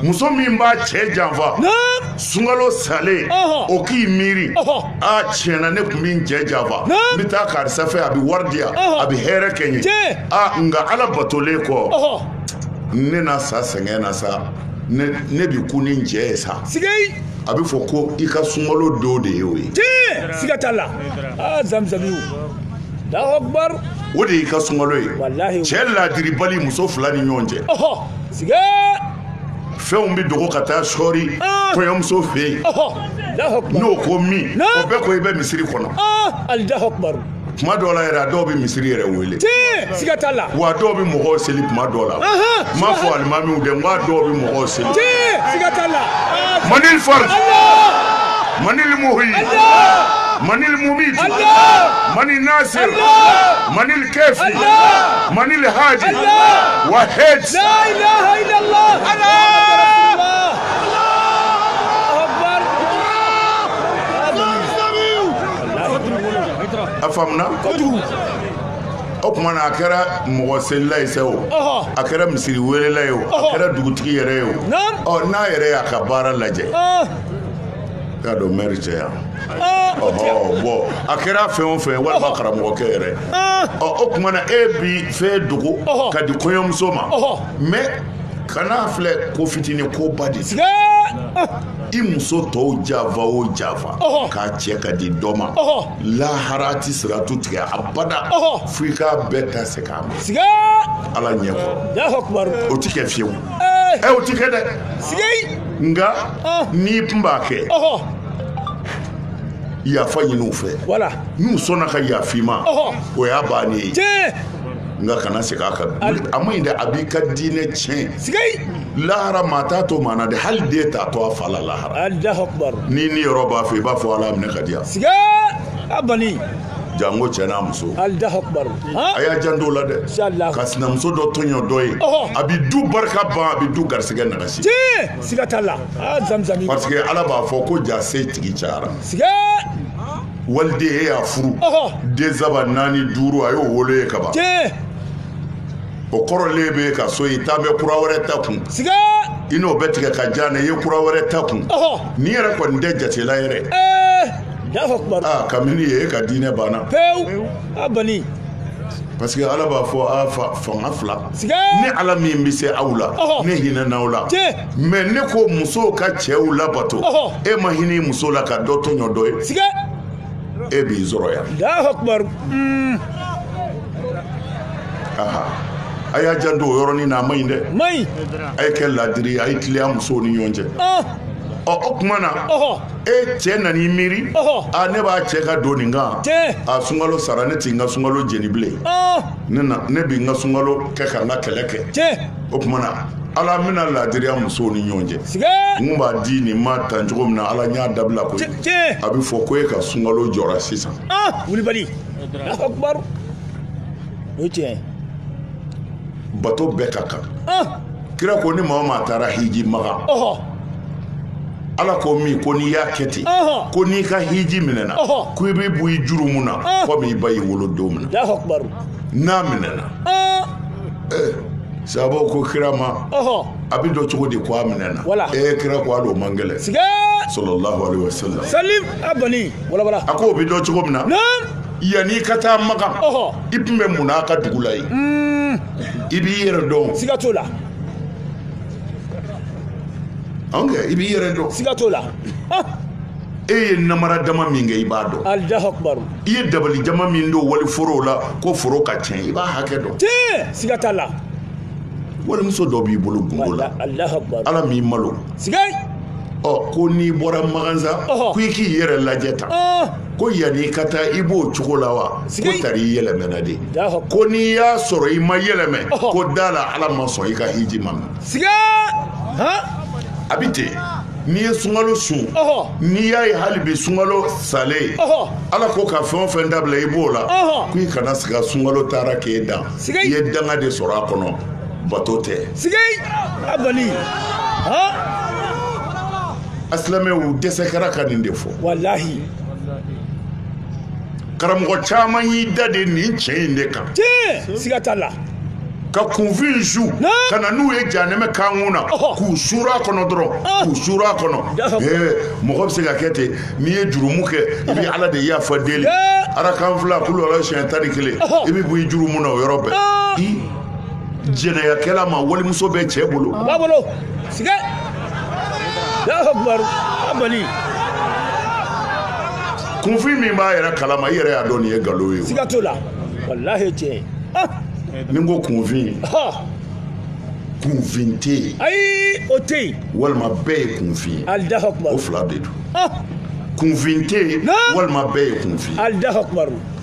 muso min b'a cɛ janfa sunkalo salen o k'i miiri a tiɲɛ na ne tun bɛ n cɛ janfa n bɛ taa karisa fɛ a bɛ wari di yan a bɛ hɛrɛ kɛ n ye a nka ala batolen kɔ ne na sa sɛgɛn na sa ne bɛ ku ni n cɛ ye sa a bɛ fɔ ko i ka sunkalo don de ye o ye tiɲɛ siga t'a la aa zamizamiw Allahu akbar o de y'i ka sunkalo ye walahi cɛ laadiribali muso fila ni ɲɔgɔn cɛ ɔhɔ siga fɛnw bɛ dogo ka taa sɔɔri ah. kɔɲɔmuso fɛ yen n'o ko min o bɛɛ kɔ i bɛ misiri kɔnɔ ah, kuma dɔw la yɛrɛ a dɔw bɛ misiri yɛrɛ wele tiɲɛ siga t'a la wa dɔw bɛ mɔgɔw seli kuma dɔw la n m'a fɔ alimamiw dɛ n ko a dɔw bɛ mɔgɔw seli tiɲɛ siga t'a la manil fari manil muhyi manil mumit manil nasir manil kafi manil haji wa hej la ilaha illallah a faamuna o tuma na a kɛra mɔgɔ selila ye sa o a kɛra misiri welela ye o a kɛra dugutigi yɛrɛ ye o ɔ n'a yɛrɛ y'a ka baara lajɛ y'a dɔn mɛri tɛ yan ɔhɔ bɔn a kɛra fɛn o fɛn walima karamɔgɔkɛ yɛrɛ ɔ o tuma na e bi fɛn dogo ka di kɔɲɔmuso ma mais kana filɛ ko fitinin ko ba de i muso tɔw janfa o janfa k'a cɛ ka di dɔ ma lahara tɛ siratu tigɛ abada fo i k'a bɛɛ ta se k'a ma ala ɲɛ kɔrɔ o tɛ kɛ fiyewu o tɛ kɛ dɛ nka n'i tun b'a kɛ yafa ɲini u fɛ n'u sɔnna ka yafa i ma o y'a bannen ye nka kana segin a kan a ma ɲi dɛ a b'i ka diinɛ tiɲɛ lahara maa t'a to maa na dɛ hali den t'a to a fa la lahara alahu akubar ni ni yɔrɔ b'a fɛ i b'a fɔ ala minɛ ka di yan siga a bali janko cɛ n'a muso alahu akubar a y'a janto o la dɛ Inshallah. ka sinamuso dɔ tɔɲɔ dɔ ye Ɔhɔ. a bɛ du barika ban a bɛ du garisɛgɛ nagasi tiɲɛ siga t'a la a zamzami parce que ala b'a fɔ ko ja setigi cayara siga waliden e y'a furu ɔhɔ den saba naani duuru a y'o wolo i ye kaban tiɲɛ o kɔrɔlen b'i ka so i taa bɛ kura wɛrɛ ta kun siga i n'o bɛ tigɛ ka jan na i ye kura wɛrɛ ta kun n'i yɛrɛ kɔni tɛ jatela yɛrɛ aa kabini ye e ka diinɛ banna pewu a bani parce que ala b'a fɔ a fanga fila ni ala min bɛ se aw la ne hinɛna aw la mɛ ne ko musow ka cɛw labato e ma hinɛ muso la ka dɔ tɔɲɔ dɔ ye e b'i sɔrɔ yan a y'a janto o yɔrɔnin na a ma ɲi dɛ a ye kɛ laadiri ye a ye tiliya musow ni ɲɔgɔn cɛ ɔ o tuma na e cɛ nan'i miiri a ne b'a cɛ ka don nin kan a sunkalo sara ne tɛ n ka sunkalo jeni bilen nin na ne bɛ n ka sunkalo kɛ ka n ka kɛlɛ kɛ o tuma na ala n bɛna laadiriya musow ni ɲɔgɔn cɛ n kun b'a di nin ma tan cogo min na ala n y'a dabila koyi tiɲɛ a bɛ fɔ ko e ka sunkalo jɔra sisan ah wulibali alahu akubaru o ye tiɲɛ ye bato bɛɛ ka kan ah kira ko ni maa o maa taara hiji makan ɔhɔ ala ko min ko n'i y'a kɛ ten Ɔhɔ. ko n'i ka hiji minɛna Ɔhɔ. ko i bɛ bɔ i jurumu na Ah. komi i ba y'i wolo don min na alahu akubaru n'a minɛna ah sahabaw ko kira ma ɔhɔ a bɛ dɔn cogo di ko a minɛna wala ee kira ko a man gɛlɛn siga sallallahu alaihi wasallam salim a bali wala wala a ko o bɛ dɔn cogo min na yann'i ka taa makan i tun bɛ mun na a ka dugu la yen hmm. i b'i yɛrɛ dɔn siga t'o la anw kɛ i b'i yɛrɛ dɔn siga t'o la e ye namara dama min kɛ i b'a dɔn alahu akubaru i ye dabali jama min don wali foro la ko foro ka tiɲɛ i b'a hakɛ dɔn tiɲɛ siga t'a la walimuso dɔ b'i bolo gundo la ala m'i malo ɔ ko n'i bɔra makan sa ko i k'i yɛrɛ lajɛ tan ko yanni i ka taa i b'o cogo la wa ko tari i yɛlɛmɛna de ko n'i y'a sɔrɔ i ma yɛlɛmɛ ko d'a la ala ma sɔn i ka hiji ma mɛn a bɛ ten n'i ye sunkalo sun n'i y'a ye hali bi sunkalo salen ala ko ka fɛn o fɛn dabila i b'o la ko i kana siga sunkalo taara k'e dan siga i ye danga de sɔrɔ a kɔnɔ bato tɛ siga a bani an silamɛw dɛsɛ kɛra ka nin de fɔ walahi karamɔgɔ caman y'i dade nin tiɲɛ in de kan tiɲɛ siga t'a la ka kunfin su ka na n'u ye janɛmɛ kankun na k'u suuru a kɔnɔ dɔrɔn k'u suuru a kɔnɔ mɔgɔ bɛ se ka kɛ ten n'i ye jurumu kɛ i bɛ ala de yafa deli arakan fila kulu ala siɲɛ tan ni kelen i bɛ bɔ i jurumu na o yɔrɔ bɛɛ i jɛnɛyakɛla ma walimuso bɛ cɛ bolo a b'a bolo siga a bani kunfin min b'a yɛrɛ kalama i yɛrɛ y'a dɔn nin ye nkalon ye siga t'o la walahi tiɲɛ ni n ko kunfin kunfin tɛ yen ayi o tɛ yen walima bɛɛ ye kunfin ye o fila de don ah! kunfin tɛ yen walima bɛɛ ye kunfin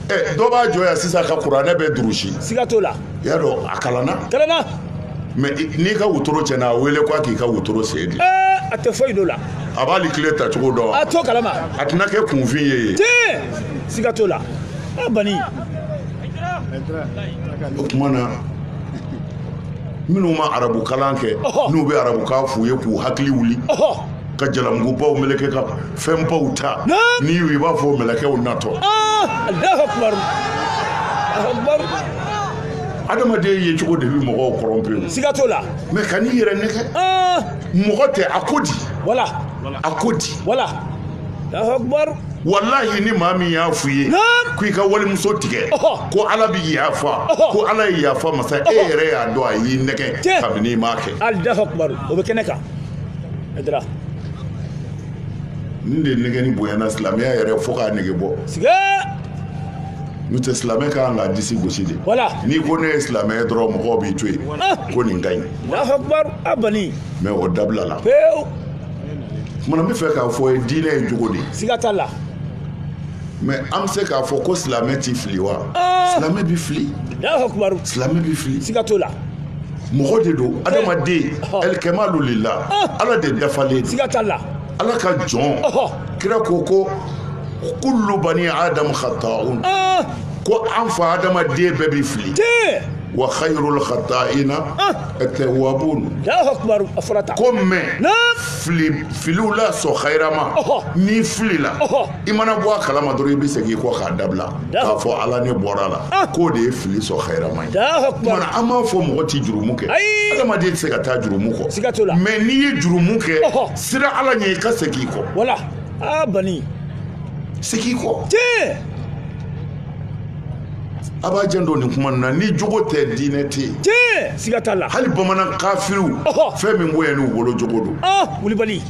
ɛ dɔ b'a jɔ yan sisan ka kuranɛ bɛɛ durusi siga t'o la i y'a dɔn a kalanna kalanna mɛ n'i ka wotoro tiɲɛna a wele ko a k'i ka wotoro sen di a tɛ foyi dɔn o la a t'ali kile ta cogo dɔn a t'o kalama a tɛna kɛ kunfin ye yen tiɲɛ siga t'o la a bani o tuma na minnu ma arabukalan kɛ n'u bɛ arabukan f'u ye k'u hakili wuli ka jalamugubaw meleke ka fɛnbaw ta n'i y'u ye i b'a fɔ mɛlɛkɛw natɔ adamaden yecogo de bɛ mɔgɔw tromper siga t'o la mɛ kan'i yɛrɛ nɛgɛn mɔgɔ tɛ a ko di wala a ko di wala walahi ni maa min y'a f'u ye ko i ka walimuso tigɛ ko ala bɛ yafa ko ala ye yafa masa e yɛrɛ y'a dɔn a y'i nɛgɛn kabini i m'a kɛ o bɛ kɛnɛ kan Aidara. Nin de nɛgɛnni bonyana silamɛya yɛrɛ fo k'a nege bɔ. Siga! N'o tɛ silamɛ ka kan k'a disi gosi de. Voilà. N'i ko ne ye silamɛ ye dɔrɔn mɔgɔw b'i to yen. Ah! Ko nin ka ɲi. Alahu akibar a bani. Mais o dabilala. Pewu. O tuma na n b'a fɛ k'a fɔ i ye diinɛ ye jogo de. Siga t'a la. Mais an bɛ se k'a fɔ ko silamɛ t'i fili wa? Ah! Silamɛ b'i fili. Alahu akibar. Silamɛ b'i fili. Siga t'o la. mɔgɔ de don adamaden alikɛmalu lila ala de dafalen don siga t'a la ala ka jɔn kira ko ko kullu bani adamu khata'un ko an fa adamaden bɛɛ bɛ fili wa khayrul khata'ina at-tawwabun Allahu akbar a fɔra tan ko mais filiw la sɔn khayrama n'i filila i mana bɔ a kalama dɔrɔn i bɛ segin i kɔ k'a dabila k'a fɔ ala ne bɔra a la ah. k'o de ye fili sɔn khayrama ye kumana an m'a fɔ mɔgɔ tɛ jurumu kɛ adamaden tɛ se ka taa jurumu kɔ mais n'i ye jurumu kɛ sira ala ɲɛ i ka segin i kɔ wala aa ah, bani segin i kɔ tiɲɛ a b'a janto nin kuma na ni jogo tɛ diinɛ tɛ yen tiɲɛ siga t'a la hali bamanan kafiriw fɛn min kun ɲɛn'u bolo jogo don ah, wulibali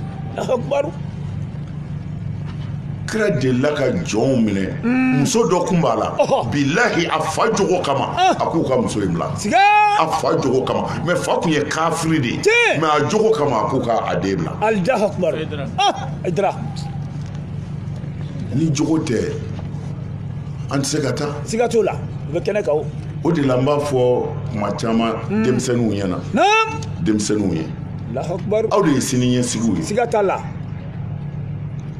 kira delila ka jɔnw minɛ mm. muso dɔ kun b'a la bilahi a fa jogo kama ah. a k'u ka muso in bila a fa jogo kama mais fa kun ye kafiri de ye mais a jogo kama a k'u ka a den bila Allahu akbar idra ni jogo tɛ an tɛ se ka taa siga t'o la u bɛ kɛnɛ kan o o de la n b'a fɔ kuma caman mm. denmisɛnninw ɲɛna denmisɛnninw ye aw de ye sini ɲɛsigiw ye siga t'a la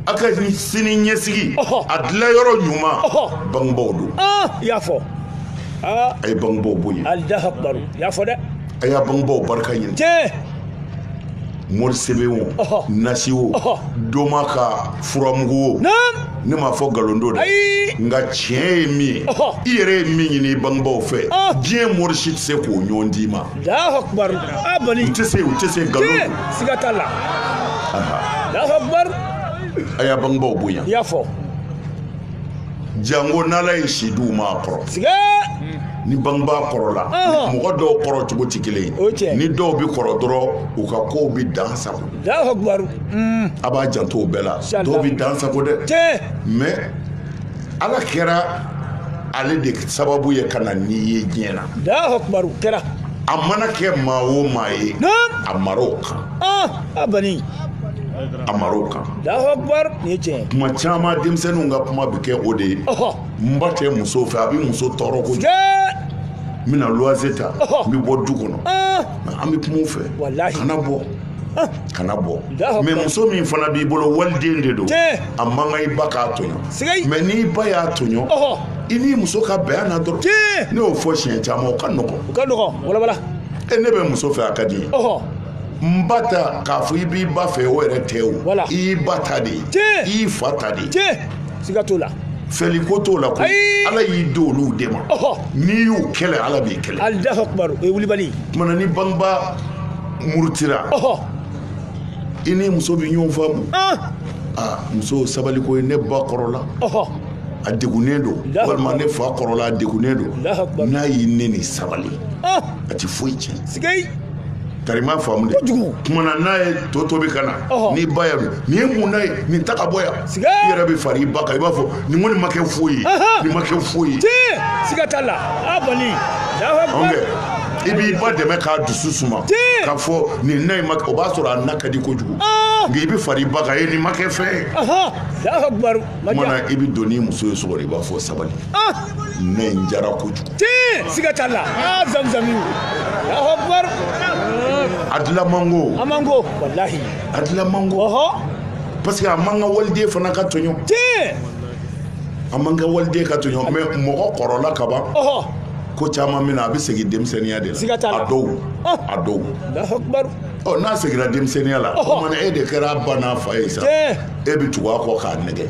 a ka sini ɲɛsigi a dilan yɔrɔ ɲuman bangebaaw don i y'a fɔ a ye bangebaaw bonya Allahu akbar i y'a fɔ dɛ a y'a bangebaaw barika ɲini tiɲɛ mori sɛbɛn o nasi o doma ka furamugu o ne m'a fɔ nkalon don dɛ nka tiɲɛ ye min ye i yɛrɛ ye min ɲini i bangebaaw fɛ diɲɛ mori si tɛ se k'o ɲɔgɔn d'i ma Allahu akbar a bani u tɛ se u tɛ se nkalon don siga t'a la Allahu akbar a y'a bangebaaw bonya i y'a fɔ jango n'ala ye si di u ma a kɔrɔ siga ni bangebaa kɔrɔla Ɔhɔ. mɔgɔ dɔw kɔrɔ cogo tɛ kelen O ye tiɲɛ. ye ni dɔw bɛ kɔrɔ dɔrɔn u ka kow bɛ dan sago Allahu akbar a b'a janto o bɛɛ la Siga t'a la. dɔw bɛ dan sago dɛ tiɲɛ mais ala kɛra ale de sababu ye ka na n'i ye diɲɛ na Allahu akbar kɛra a mana kɛ maa o maa ye a mara o kan ah, a bani a mara o kan Allahu akbar nin ye tiɲɛ kuma caman denmisɛnninw ka kuma bɛ kɛ o de ye n ba tɛ muso fɛ a bɛ muso tɔɔrɔ kojugu n bɛna luwanse ta n bɛ bɔ du kɔnɔ ah. an bɛ kuma u fɛ kana bɔ kana bɔ mais muso min fana b'i bolo waliden de don a man kan i ba k'a tɔɲɔ mais n'i ba y'a tɔɲɔ i n'i muso ka bɛn a na dɔrɔn ne y'o fɔ siɲɛ caman o ka nɔgɔn o ka nɔgɔn walawala e ne bɛ muso fɛ a ka di ye n ba ta k'a fɔ i b'i ba fɛ o yɛrɛ tɛ o i y'i ba ta de ye i y'i fa ta de ye siga t'o la fɛli ko t'o la ko ala y'i di olu de ma n'i y'u kɛlɛ ala b'i kɛlɛ Allahu akbar o ye wulibali ye tumana ni bangebaa murutira i ni muso bɛ ɲɔgɔn faamu ah. ah, muso sabali ko ye ne ba kɔrɔla a degunnen don walima ne fa kɔrɔla a degunnen don n'a y'i neni sabali ah. a ti foyi tiɲɛ karima faamu de tumana n'a ye to tobi ka na n'i ba y'a dun nin ye mun na ye nin ta ka bɔ yan i yɛrɛ bɛ fara i ba kan i b'a fɔ nin kɔni ma kɛ foyi ye nin ma kɛ foyi ye siga t'a la a kɔni i b'i ba dɛmɛ k'a dusu suma k'a fɔ nin na in ma o b'a sɔrɔ a na ka di kojugu ah! nka i bɛ fara i ba kan e nin ma kɛ fɛn ye tumana i bɛ don n'i muso ye so kɔnɔ i b'a fɔ sabali ah! na in jara kojugu siga t'a la ah, zamzami a dilan man go a man go walahi a dilan man go parce que a man kan waliden fana ka tɔɲɔ a man kan waliden ka tɔɲɔ mais mɔgɔ kɔrɔla ka ban ko caman min na a bɛ segin denmisɛnninya de la a dɔw a dɔw ɔ n'a seginna denmisɛnninya la o mana e de kɛra a ba n'a fa ye sa e bɛ tugu a kɔ k'a nɛgɛ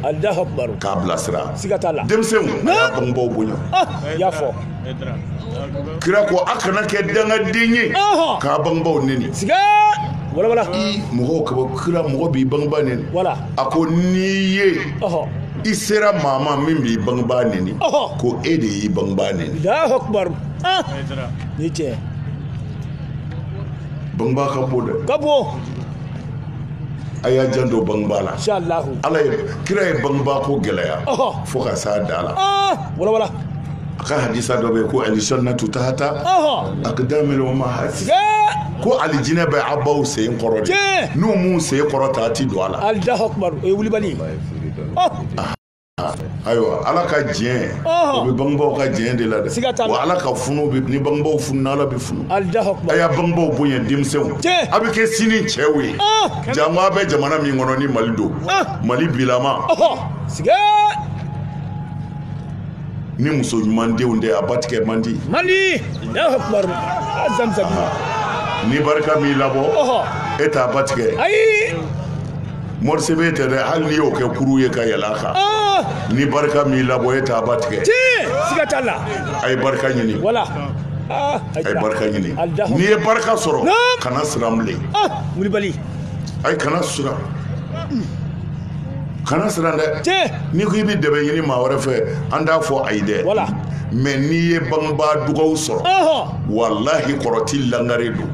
k'a bilasira denmisɛnw a y'a bangebaaw bonya i y'a fɔ kira ko a kana kɛ dangaden ye k'a bangebaaw neni mɔgɔw kaba kira mɔgɔ b'i bangebaa neni a ko n'i ye i sera maa ma min b'i bangebaa neni ko e de y'i bangebaa neni ah! ni cɛ bangebaa ka bon dɛ ka bon a y'a janto bangebaa la ala ye kira ye bangebaa ko gɛlɛya fo ka s'a dan na ah! walawala a ka hadisa dɔ bɛ yen ko alijannatu tahata akidamil umahati ko alijinɛ bɛ a baw sen kɔrɔ de n'u m'u sen kɔrɔta a ti don a la ayiwa ala ka diɲɛ o bɛ bangebaaw ka diɲɛ de la dɛ wa ala ka funu bɛ ni bangebaaw fununa ala bɛ funu a y'a bangebaaw bonya denmisɛnw a bɛ kɛ sini cɛw ye jango a bɛ jamana min kɔnɔ ni mali don mali bilama ni muso ɲuman denw de a batigɛ man di mali ni barika m'i labɔ e t'a batigɛ ayi Mori sɛbɛn tɛ dɛ hali n'i y'o kɛ kurun ye ka yɛlɛn a kan ni barika m'i labɔ e tɛ ba tigɛ siga t'a la a ye barika ɲini wala a ye barika ɲini n'i ye barika sɔrɔ kana siran bilen wulibali ayi kana siran dɛ n'i ko i bɛ dɛmɛ ɲini maa wɛrɛ fɛ an t'a fɔ ayi dɛ wala mɛ n'i ye bangebaa dugawu sɔrɔ walahi kɔrɔti lakari don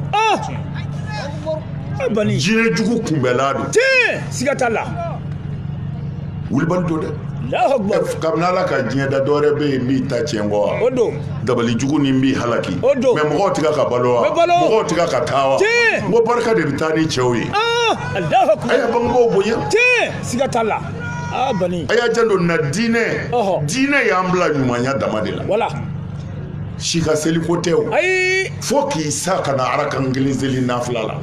jinɛ jugu kunbɛnna don siga t'a la wulibali don dɛ kabini ala ka diɲɛ da dɔwɛrɛ bɛ yen min ta tiɲɛ kɔ wa o don dabali jugu ni b'i halaki o don mɛ mɔgɔw tɛ ka balo wa mɔgɔw tɛ ka taa wa n ko barika de bɛ taa ni cɛw ye a y'a bangebaaw bonya siga t'a la a y'a janto na diinɛ diinɛ y'an bila ɲumanya dama de la Si ka seli ko tɛ o ayi fo k'i sa kana arakan kelen seli nafila la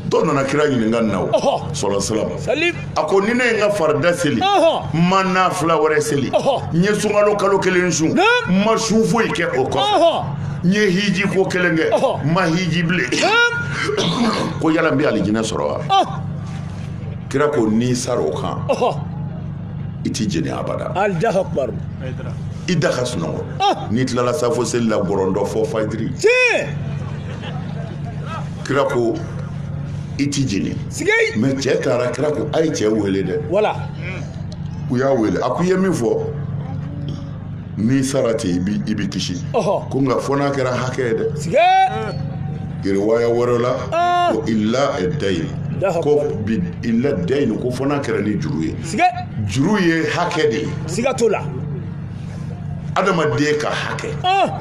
dɔ nana kira ɲininka nin na o sɔlɔ salim a ko ni ne ye n ka farida seli n ma nafila wɛrɛ seli n ye sunkalo kalo kelen sun n ma sun foyi kɛ o kɔ n ye hiji ko kelen kɛ n ma hiji bilen ko yala n bɛ alijinɛ sɔrɔ wa kira ko n'i sara o kan i tɛ jeni abada i da ka sunɔgɔ ah! n'i tilala safo seli la gɔrɔndɔ fo fajiri kira ko i ti jeni mɛ cɛ taara kira ko a ye cɛ wele dɛ u y'a wele a ko i ye min fɔ n'i sara ten i bi i bi kisi ko nka fo n'a kɛra hakɛ ye dɛ riwaya wɛrɛ la ah! ko illa dayin ko bi illa dayin ko fo n'a kɛra ni juru ye siga juru ye hakɛ de ye siga t'o la adamaden ka hakɛ ah!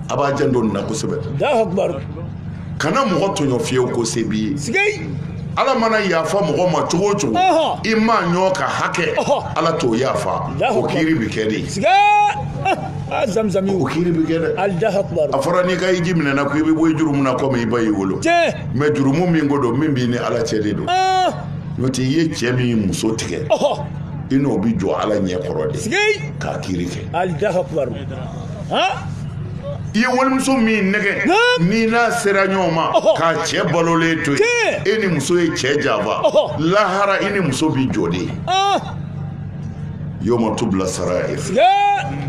a b'a janto nin na kosɛbɛ kana mɔgɔ tɔɲɔ fiyewu ko se b'i ye ala mana yafa mɔgɔ ma cogo o cogo i maaɲɔgɔn ka hakɛ ala t'o yafa o kiri bɛ kɛ de ah, zamzami o kiri bɛ kɛ dɛ a fɔra n'i ka hiji minɛna ko i bɛ bɔ i jurumu na komi i ba y'i wolo mɛ jurumu min ko don min b'i ni ala cɛ de don ah. n'o tɛ i ye cɛ min muso tigɛ i n'o bɛ jɔ ala ɲɛ kɔrɔ de k'a kiri kɛ i ye walimuso min nɛgɛ n'i n'a sera ɲɔgɔn ma k'a cɛ balolen to yen e ni muso ye cɛ janfa lahara i ni muso bɛ jɔ de yoma tubila sarayir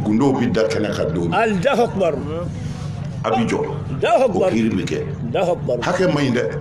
gundow bɛ da kɛnɛ kan don a bɛ jɔ o kiri bɛ kɛ hakɛ man ɲi dɛ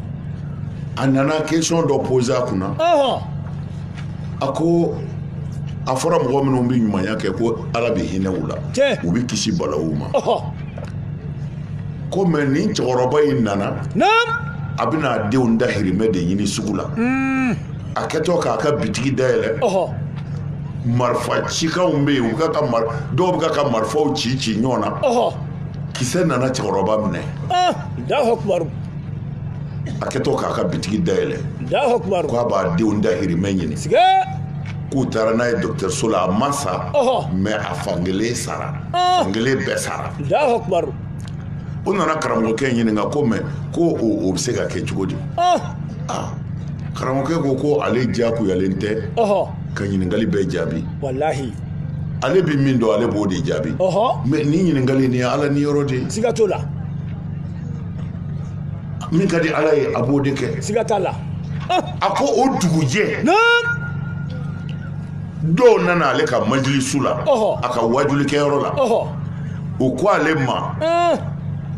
a nana kɛsiyɔn dɔ poze a kunna a ko a fɔra mɔgɔ minnu bɛ ɲumanya kɛ ko ala bɛ hinɛ u la u bɛ kisi balawu ma ko mɛ nin cɛkɔrɔba in nana a bɛna a denw dahirimɛ de ɲini sugu la hmm. a kɛtɔ k'a ka bitigi dayɛlɛ marifa cikanw bɛ yen dɔw bɛ ka marifaw ci ci ɲɔgɔn na kisɛ nana cɛkɔrɔba minɛ ah, a kɛtɔ k'a ka bitigi dayɛlɛ k'a b'a denw dahirimɛ ɲini k'u taara n'a ye dɔgɔtɔrɔso la a ma sa mɛ a fankelen sara ah. fankelen bɛɛ sara o nana karamɔgɔkɛ ɲininka ko mɛ ko o bɛ se ka kɛ cogo di ah. Ah. karamɔgɔkɛ ko ko ale diyagoyalen tɛ ka ɲininkali bɛɛ jaabi walahi ale bɛ min dɔn ale b'o de jaabi mɛ nin ɲininkali nin ye ala niyɔrɔ de ye siga t'o la min ka di ala ye a b'o de kɛ siga t'a la a ko o dugujɛ dɔw nana ale ka majilisu la a ka wajulikɛyɔrɔ la u ko ale ma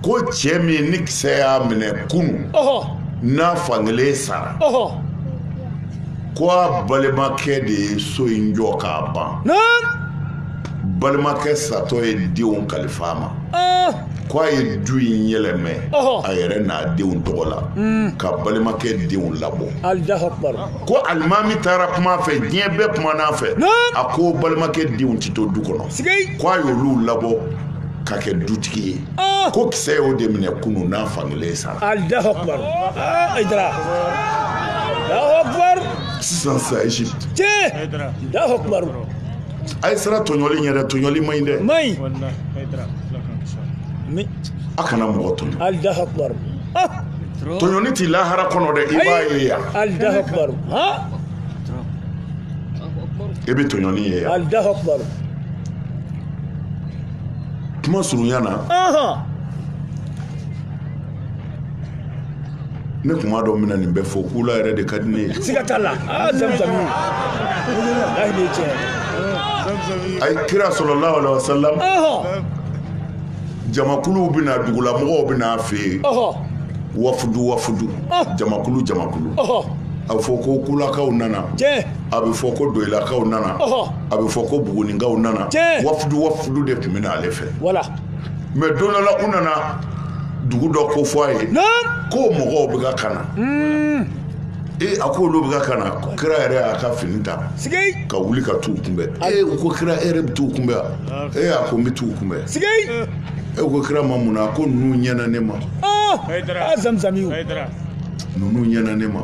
ko cɛ min ni kisɛ y'a minɛ kunu n'a fankelen sara ko a balimakɛ de ye so in jɔ k'a ban balimakɛ satɔ ye denw kalifa a ma ah! ko a ye du in yɛlɛmɛ a yɛrɛ n'a denw tɔgɔ la hmm. ka balimakɛ denw labɔ ko alimami taara kuma a fɛ diɲɛ bɛɛ kumana a fɛ a ko balimakɛ denw tɛ to du kɔnɔ ko a y'olu labɔ ka kɛ dutigi ye ah! ko kisɛ y'o de minɛ kunu n'a fankelen sara ah, sisan sa egypte a ye siran tɔɲɔli ɲɛ dɛ tɔɲɔli man ɲi dɛ man ɲi a kana mɔgɔ tɔɲɔ alahu akubaru Ah, tɔɲɔni tɛ lahara kɔnɔ dɛ i b'a ye yan alahu akubaru ha i bɛ tɔɲɔni ye yan alahu akubaru kuma surunya na ahan ne kuma dɔ minnu ni bɛ fɔ kula yɛrɛ de ka di ne ye siga t'a la aa zamzami ayi de tiɲɛ ayi kira sallallahu alaihi wasallam jamakuluw bɛ na dugulamɔgɔw bɛ na a fɛ yen wafudu wafudu jamakulu jamakulu a bɛ fɔ ko kulakaw nana a bɛ fɔ ko doyilakaw nana a bɛ fɔ ko bugunikaw nana wafudu wafudu de tun bɛ na ale fɛ mais don dɔ la u nana dugu dɔ ko fɔ a ye ko mɔgɔw bɛ kan ka na ee a ko olu bɛ kan ka na ko kira yɛrɛ y'a ka fini ta ka wuli ka t'u kunbɛn ee u ko kira e yɛrɛ bɛ t'u kunbɛn wa ee a ko n bɛ t'u kunbɛn u ko kira ma mun na a ko ninnu ɲɛna ne ma zamzam ninnu ɲɛna ne ma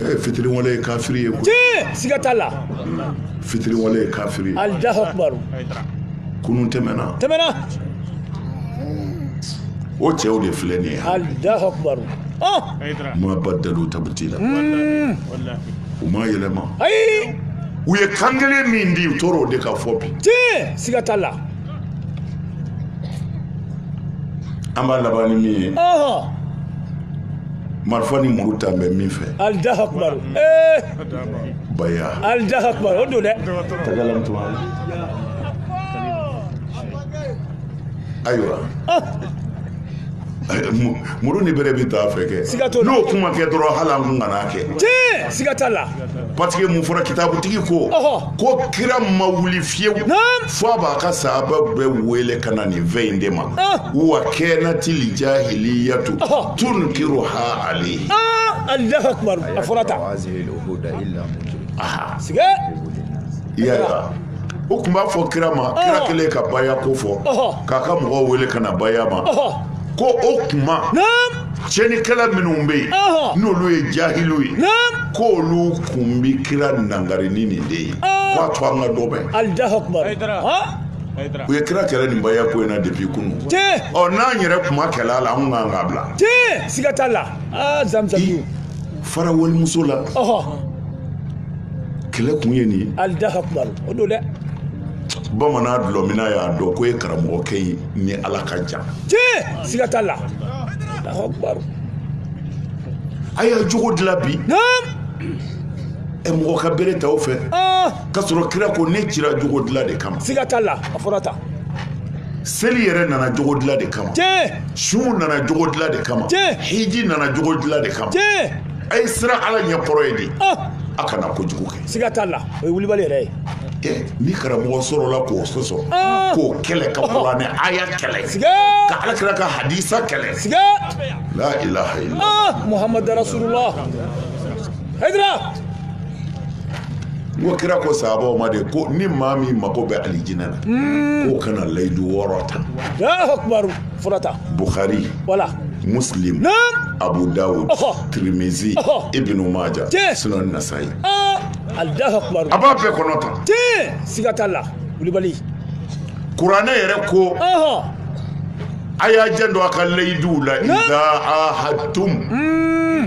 ee fitiriwale ye kafiri ye koyi siga t'a la fitiriwale ye kafiri ye alahu akubaru kunun tɛmɛna o cɛw de filɛ nin ye alahu akubaru oh! ma badalu tabdila hmm. u ma yɛlɛma ayi u ye kan kelen min di u tora o de kan fo bi tiɲɛ siga t'a la an b'a laban ni min ye marifa ni muru ta bɛ min fɛ alahu akubaru ee eh! baya alahu akbar o don dɛ takalam tuma ayiwa Mu- muru ni bere bɛ ta a fɛ kɛ Siga t'a la. n'o kun ma kɛ dɔrɔn hali an kun kana kɛ tiɲɛ siga t'a la parce que mun fɔra kitabutigi ko Ɔhɔ. ko kira ma wuli fiyewu Naam. fo a b'a ka sahaba bɛɛ wele ka na nin fɛn in de ma Ah. wa kanatil jahiliyatu Ɔhɔ. tunkiruha alayhi aa alahu akbar a fɔra tan u kun b'a fɔ kira ma kira kelen ka baya ko fɔ k'a ka mɔgɔw wele ka na baya ma ko o kuma cɛnikɛla minnu bɛ yen n'olu ye jahiliw ye k'olu kun bɛ kira nangari ni nin de ye k'a to an ka dɔ mɛn u ye kira kɛlɛ nin baya ko in na depuis kunun ɔ n'an yɛrɛ kun ma kɛlɛ a la an kun kan k'a bila siga t'a la zamzam fara walimuso la kɛlɛ kun ye nin ye alahu akubaru o don dɛ bamanan dɔlɔminna y'a dɔn ko e karamɔgɔkɛ i ni ala ka jan tiɲɛ siga t'a la a y'a jogo dilan bi ɛ mɔgɔ ka bere ta o fɛ k'a sɔrɔ kira ko ne cira jogo dilan de kama siga t'a la a fɔra tan seli yɛrɛ nana jogo dilan de kama sun nana jogo dilan de kama hiji nana jogo dilan de kama a ye siran ala ɲɛ kɔrɔ ye de ah! a kana kojugu kɛ siga t'a la o ye wulibali yɛrɛ ye eh, ni karamɔgɔ sɔrɔla k'o sɔsɔ ah! k'o kɛlɛ ka kuranɛ aya kɛlɛ ka ala kira ka hadisa kɛlɛ siga la ilaha illallah muhamadu rasulullah hayidara n ko kira ko sahabaw ma de ko ni maa min mago bɛ alijinɛ na hmm. k'o ka na layidu wɔɔrɔ ta furata bukhari wala muslim abu dawud tirimizi ibnu maja sunan nasayi ah, alahu akubaru a b'a bɛɛ kɔnɔ tan tiɲɛ siga t'a la wulibali kuranɛ yɛrɛ ko a y'a janto a ka layiduw la iza ahadtum hmm.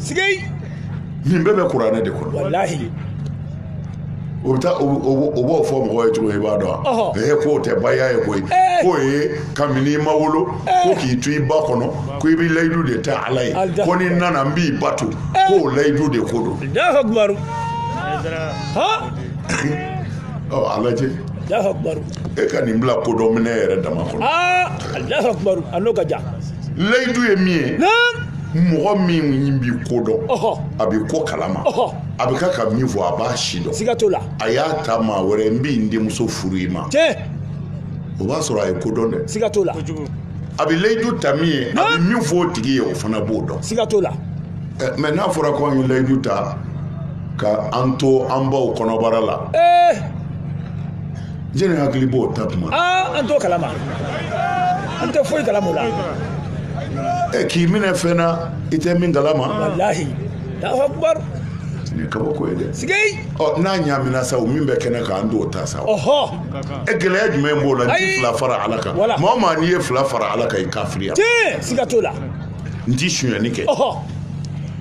sigi nin bɛɛ bɛ kuranɛ de kɔnɔ walahi o bɛ taa o b'o fɔ mɔgɔ ye cogo i b'a dɔn ee k'o tɛ baya ye koyi k'o ye kabini i ma wolo ko k'i to i ba kɔnɔ ko i bɛ layidu de ta ala ye ko ni n nana n b'i bato k'o layidu de ko don a lajɛ e ka nin bila kodɔn minɛ yɛrɛ dama kɔnɔ a n'o ka jan layidu ye min ye mɔgɔ min bi ko dɔn a bɛ ko kalama a bɛ ka ka min fɔ a b'a sidɔn siga t'o la a y'a ta maa wɛrɛ n bi n denmuso furu i ma tiɲɛ o b'a sɔrɔ a ye ko dɔn dɛ siga t'o la a bɛ layidu ta min ye a bɛ min fɔ o tigi ye o fana b'o dɔn siga t'o la mɛ n'a fɔra ko an ye layidu ta ka an to an baw kɔnɔbara la jɛnɛ hakili b'o ta tuma aa an t'o kalama an tɛ foyi kalama o la ɛ k'i minɛ fɛn na i tɛ min kalama walahi alahu akubar nin ye kabako ye dɛ sigei ɔ n'a ɲaamina sa o min bɛ kɛnɛ kan an t'o ta sa ɔhɔ ɛ gɛlɛya jumɛn b'o la n ti Ayi. fila fara ala kan Wala. maa o maa n'i ye fila fara ala kan i kafiriya tiɲɛ siga t'o la n ti sunyani kɛ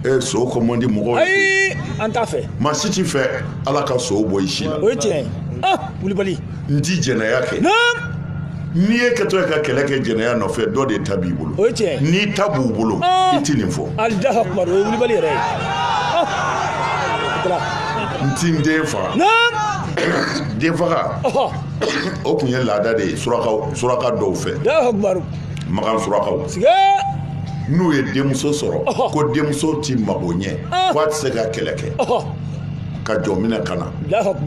ee son ko man di mɔgɔw ye ayi an t'a fɛ maa si t'i fɛ ala ka son bɔ i si la o ye tiɲɛ ye ah wulibali n ti jɛnɛya kɛ n'i ye kɛtɔ ye ka kɛlɛ kɛ jɛnɛya nɔfɛ dɔ de ta b'i bolo o ye tiɲɛ n'i ta b'u bolo i tɛ nin fɔ alahu akubar o ye wulibali yɛrɛ ye n ti n den faga den faga o tun ye laada de ye suraka dɔw fɛ makan surakaw n'u ye denmuso sɔrɔ ko denmuso ti mago ɲɛ ko a tɛ se ka kɛlɛ kɛ ka jɔn minɛ ka na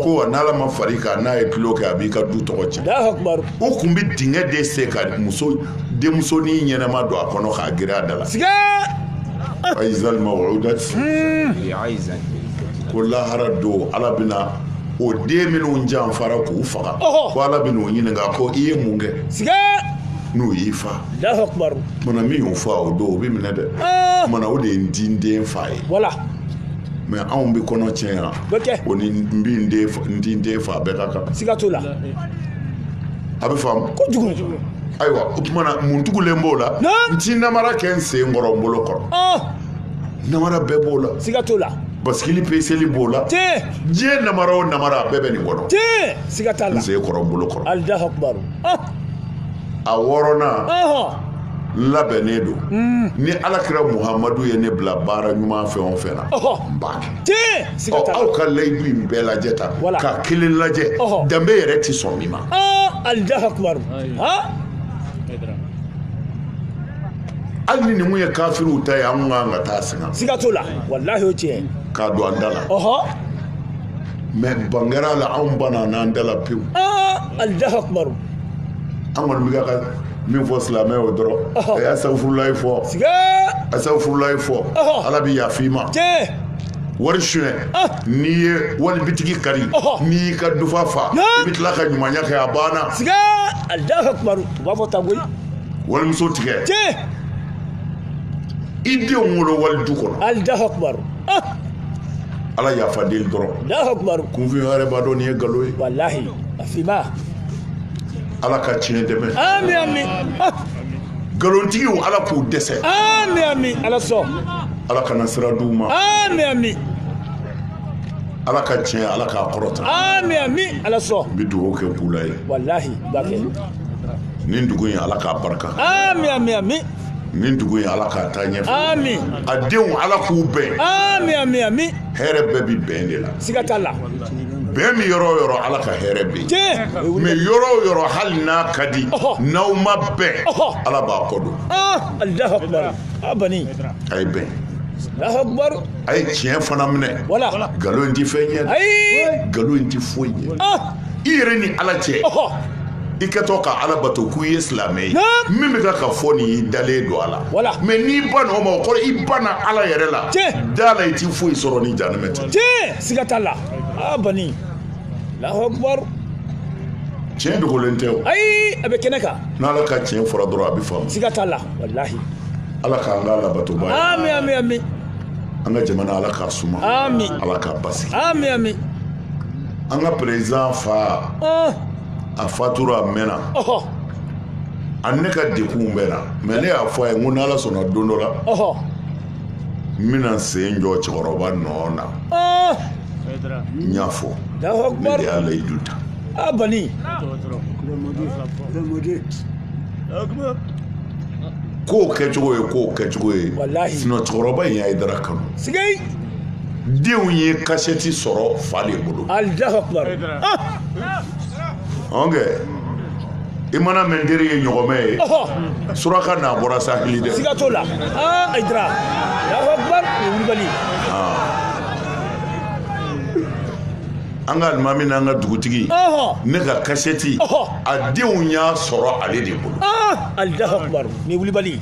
ko wa n'ala ma far'i kan n'a ye tulon kɛ a b'i ka du tɔgɔ tiɲɛ u kun bɛ dingɛ de sen ka muso denmusonin ɲɛnɛma don a kɔnɔ k'a geren a da la ayizali mawuda ko lahara don ala bɛna o den minnu janfara k'u faga ko ala bɛna o ɲininka ko i ye mun kɛ n'o y'i faa mana min y'o faa o don o bɛ minɛ dɛ ah! mana o de ye n ti n den faa ye mɛ anw bɛ kɔnɔ tiɲɛ yan o ni n bɛ n ti n den faa bɛɛ ka kan siga t'o la a bɛ faamu kojugu ayiwa o tuma na mun tugulen b'o la n ti namara kɛ n sen kɔrɔ n bolo kɔrɔ ah! namara bɛɛ b'o la siga t'o la basikili peseli b'o la tiɲɛ diɲɛ namara o namara a bɛɛ bɛ nin kɔnɔ tiɲɛ siga t'a la n sen kɔrɔ n bolo kɔrɔ Allahu akbar ah! a wɔɔrɔnan labɛnnen don hmm. ni ala kira muhamadu ye ne bila baara ɲuman fɛn o fɛn na n b'a kɛ aw ka layidu in bɛɛ lajɛ ta ka kelen lajɛ danbe yɛrɛ tɛ sɔn min ma ah, hali ni nin kun ye kafiriw ta ye an kun kan k'a ta sɛgɛn siga t'o la walahi o tiɲɛ k'a don an da la mɛ bangera la anw banna n'an da la pewu Allahu akbar an kɔni bɛ ka min fɔ silamɛ o dɔrɔn a y'asafurulayi fɔ asafurulayi fɔ ala bɛ yafa i ma wari suɲɛ n'i ye wali bitigi kari n'i y'i ka dufa fa i bɛ tila ka ɲumanya kɛ a banna Allahu akbar u b'a fɔ tan ko walimuso tigɛ i denw wolo wali du kɔnɔ Allahu akbar ala yafa deli dɔrɔn Allahu akbar kunfin yɛrɛ b'a dɔn nin ye nkalon ye wallahi a finma ala ka tiɲɛ dɛmɛ amin amin ah, nkalontigiw ala k'u dɛsɛ amin amin ala sɔn ala kana sira d'u ma amin amin ala ka tiɲɛ ala k'a kɔrɔta amin amin ala sɔn n bɛ dugawu kɛ Kula ye wallahi b'a kɛ nin dugu in ala k'a barika amin amin amin nin dugu in ala k'a taa ɲɛfɛ amin a denw ala k'u bɛn amin amin amin hɛrɛ bɛɛ bi bɛn de la siga t'a la bɛn bi yɔrɔ o yɔrɔ ala ka hɛrɛ bɛ yen mɛ yɔrɔ o yɔrɔ hali n'a ka di n'aw ma bɛn ala b'a kɔ don alahu akubar a bani a ye bɛn alahu akubar a ye tiɲɛ fana minɛ wala nkalon in ti fɛn ɲɛ ayi nkalon in ti foyi ɲɛ i yɛrɛ ni ala cɛ i kɛtɔ ka ala bato k'u ye silamɛ ye min bɛ ka ka fɔ nin y'i dalen don a la mɛ n'i bann'o ma o kɔrɔ i banna ala yɛrɛ la da la i ti foyi sɔrɔ ni jahanama tɛ siga t'a la a bani Allahu akbar tiɲɛ dogolen tɛ o ayi a bɛ kɛnɛ kan n'ala ka tiɲɛ fɔra dɔrɔn a bɛ faamu siga t'a la walahi ala k'an kɛ alabatobaa ye amin amin amin an ka jamana ala k'a suma amin ala k'a basigi amin amin an ka perezidan fa a fatura a mɛnna ani ne ka degunw bɛ n na mɛ ne y'a fɔ a ye ko n'ala sɔnna don dɔ la n bɛna n sen jɔ cɛkɔrɔba nɔ na n y'a fɔ ne de y'a layidu ta a bani k'o kɛcogo ye k'o kɛcogo ye sinɔn cɛkɔrɔba in ye ayidara kanu denw ye kasɛti sɔrɔ fa de bolo ɔnkɛ i mana mɛn teri ye ɲɔgɔmɛ ye suraka n'a bɔra saheli dɛ siga t'o la aa ayidara alahu akubaru o ye wulibali ye an ka alimami n'an ka dugutigi ne ka kasɛti a denw y'a sɔrɔ ale de bolo alahu akubaru nin ye wulibali ye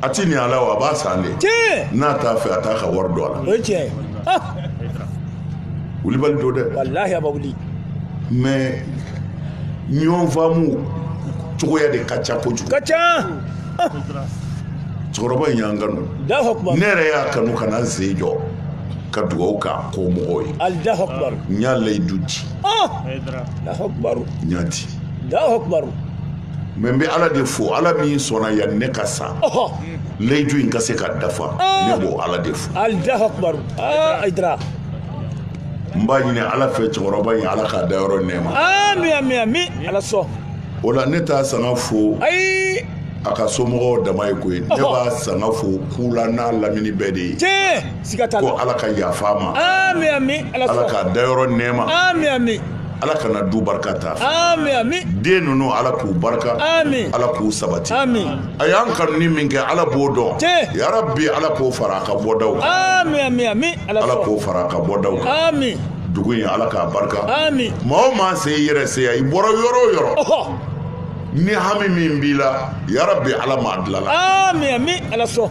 a ti ni a la wa a b'a san de n'a t'a fɛ a t'a ka wari don a la ah! wulibali don dɛ walahi a b'a wuli mais ɲɔgɔn faamu cogoya de ka ca kojugu ka ca ah! cɛkɔrɔba in y'an kanu ne yɛrɛ y'a kanu ka na n sen jɔ ka dugawu k'a kɔmɔgɔw ye n y'a layidu di n y'a di mɛ n bɛ ala de fo ala min sɔnna yani n ka sa layidu in ka se ka dafa ah. ne b'o ala de fo ah, n b'a ɲini ala fɛ cɛkɔrɔba in ala k'a dayɔrɔ nɛɛma o la ne t'a sanga fo a ka somɔgɔw dama ye koyi ne b'a sanga fo kula n'a lamini bɛɛ de ye siga t'a la ko ala ka yafa a ma ami ami ala ala k'a dayɔrɔ nɛɛma ami ami ala kana du barika ta ami ami den ninnu ala k'u barika ami ala k'u sabati ami a y'an kanu ni min kɛ ala b'o dɔn tiɲɛ yarabi ala k'o fara a ka bɔdaw kan ami ami ami ala ala k'o fara a ka bɔdaw kan ami dugu in ala k'a barika ami maa o maa se i yɛrɛ se yan i bɔra yɔrɔ o yɔrɔ ɔhɔ ni hami min b'i la yarabi ala m'a dilanna ami ami ala sɔn